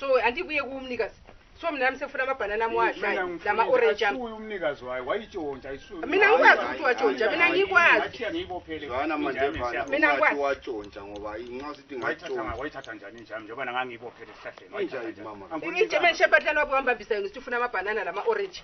so andibuye kumnikazi so mina nami sefuna amabhanana ami wadlayo lama-orenji ami Asuye umnikazi wayo wayitshontsha isuye Mina ngikwazi ukuthi watshontsha, mina ngikwazi. Ngathiya ngiyibophele Zwana manje injami mfana yami. Mina ungathi ngikwazi. watshontsha ngoba nxa usithi Wayithatha nga- ngatshontsha wayithatha njani injami njengoba nanga ngiyibophele esihlahleni wayithatha Injani, njani? mama? Angifuni injami injami. enishephatlana wabo wambambisa yona sithi ufuna amabhanana lama-orenji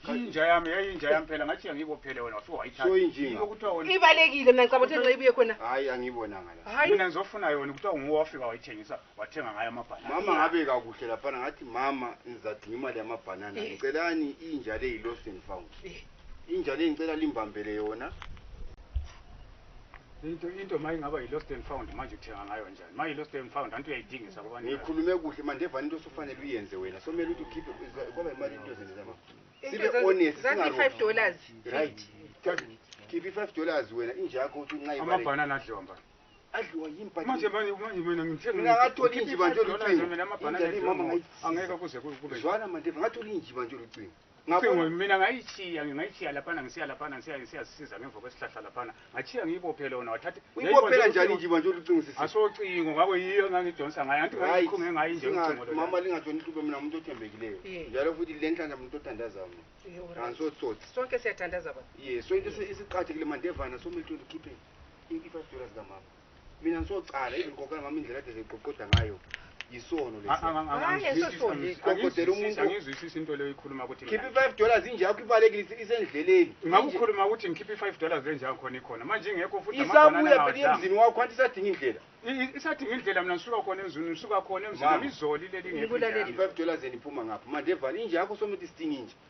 inja yami yayinja yami phela ngathiya ngiyibophele wena wafike wayithatha So injinga. Yilo kuthiwa wena ibalekile mina ngicabanga ukuthi nxa ibuye khona hayi angiyibonanga la hayi mina ngizofuna yona kuthiwa nguwe wafika wayithengisa wathenga ngayo amabhanana mama ngabeka kuhle laphana ngathi mama ngizadinga imali yamabhanana eh. ngicelani inja le yi-lost and found eh. inja le ngicela limbambele yona into into ma ingaba yi-lost and found manje uthenga ngayo njani ma yi-lost and found anti uyayidingisa kwabani ngikhulume kuhle manje evani into osufanele uyenze wena so mele ukuthi ukhiphe kwaba imali into ezenzela ma sibe honest singafive dollars right khiphe i-five dollars wena inja yakho uthi uncaamabhanana adlomba adliwa yini but manje manje manje mina ngithe Mina ngathola inji banje olucingo. mina amabhanana Inja le mama nje, ngayidlisisa. angeke kuze ku- kube zwana mandeva ngatholi inji banje olucingo Cingo, ngabona mina ngayitshiya ngayitshiya laphana ngisiya laphana ngisiya ngisiyasiza ngemva kwesihlahla laphana ngatshiya ngiyibophe lona wathatha uyibophela njani inji banje olucingo sisi asocingo ngako yiyo engangidonsa ngayo anti Right. ngayikhunge ngayo inje Singa- ucingo lona mama lingatshoni hlube mina umuntu othembekileyo Yeah. njalo futhi le nhlanja muntu othandazayo Yho, right. angisotsotsi sonke siyathandaza baba ye so into esi- esiqathekile mandevana somele uthole ukhipheni iifasitula zikamama mina ndisocala even kokana mama indlela ade ziqoqoda ngayo yisono lesiqoqodela umuntungizwisisi into leyo ikhuluma ukuthi khipha i-five dollars injakho ibalekile isendleleni ngakukhuluma ukuthi ngikhipha i-five dollars enjako khona ikhona manje ingekho futhi isabuya phela emzini wakho anti isadinga indlela isadinga indlela mina ngisuka khona emzini ngisuka khona emzini izoli leli ngefive dollars eniphuma ngapho mandevane injakho somuthi sidinga inje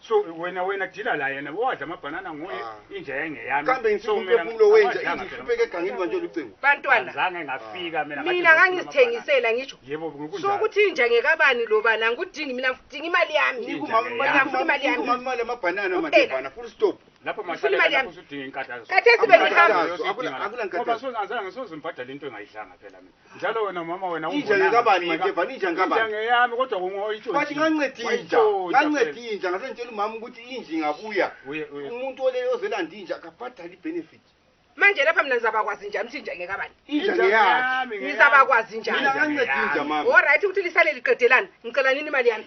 so wena wena dila la yena wadla amabhanana nguye ah. inja yengeyami kambe ngisiphefumulo wenja ingihlupeke egangeni manje lucingo bantwana zange ngafika ah. mina mina ngangizithengisela ngisho yebo ngokunjalo so ukuthi inja ngekabani lo bana ngikudingi mina ngidinga imali yami ngikumama imali yami ngumama imali amabhanana manje bana full stop lapho mahlale lapho usudinga inkathazo kathesi bengihamba akula akula inkathazo ngoba sonazange sozimbhadala into engayidlanga phela mina njalo wena mama wena Inja umbonanga ngekabani ufika. manje, Vani, inja Inja ngekabani? ngeyami kodwa kungoyitsho bathi nganceda inja nganceda inja ngase ngitshela umama ukuthi inja ingabuya Uye, uye. umuntu ole ozelanda inja akabhadali benefit manje lapha mina ngizabakwazi njani ukuthi inja ngekabani inja ngeyakhe ngizabakwazi njani Mina nganceda inja, mama. olright ukuthi lisale liqedelana ngicela nini imali yami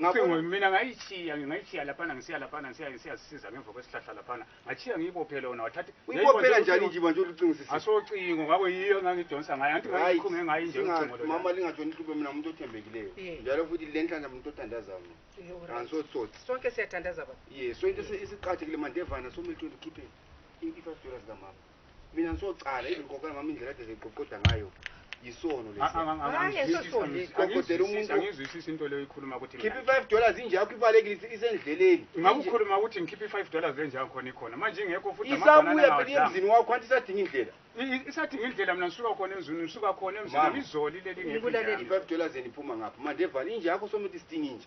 Ngabona mina ngayitshiya ngayitshiya lapha ngisiya lapha ngisiya ngisiya sisiza ngemva kwesihlahla lapha ngatshiya ngiyibophe lona wathatha uyibophela njani nje manje ulucingisisa asocingo ngakho yiyo ngangidonsa ngayo anti ngayikhunge ngayi nje ucingo lo mama lingatshoni inhlupho mina umuntu othembekileyo eh. njalo futhi lenhlanhla umuntu othandaza mina eh, angisosotsi sonke siyathandaza baba ye sonke isiqathekile mandevana somehlweni ukhiphe i-five dollars kamama mina ngisocala even kokana mama indlela ade ziqoqoda ngayo yisono lesiqoqodela umuntungizwisisa into leyo ikhuluma ukuthi khipha i-five dollars injakho ibalekile isendleleni ngakukhuluma ukuthi ngikhipha i-five dollars enjakho khona ikhona manje ingekho futhi isabuya phela emzini wakho anti isadinga indlela isadinga indlela mina ngisuka khona emzini ngisuka khona emzini izoli leli ngikulaleleifive dollars endiphuma ngapho mandevane injakho somuthi isidinga inje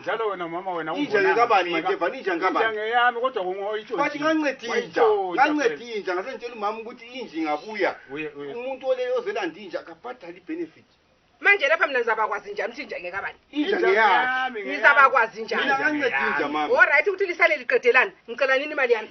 njalo wena mama wena inja ngekabani manjeva ninja ngekabani inja ngeyami kodwa kungoyitsho bathi nganceda inja nganceda inja ngase ngitshela umama ukuthi inji ngabuya umuntu ole ozelanda inja akabhadali benefit manje lapha mina ngizabakwazi njani ukuthi inja ngekabani inja ngeyami ngizabakwazi njani mina nganceda inja mama all right ukuthi lisale liqedelana ngicela nini imali yami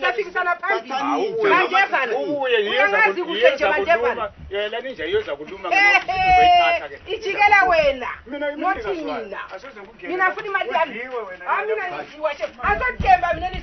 safikisana phambili bandevana uyamazi kuhle nje bandevana ijikela wena nothi mina mina funa imali yami amina nisiwashe asathemba mina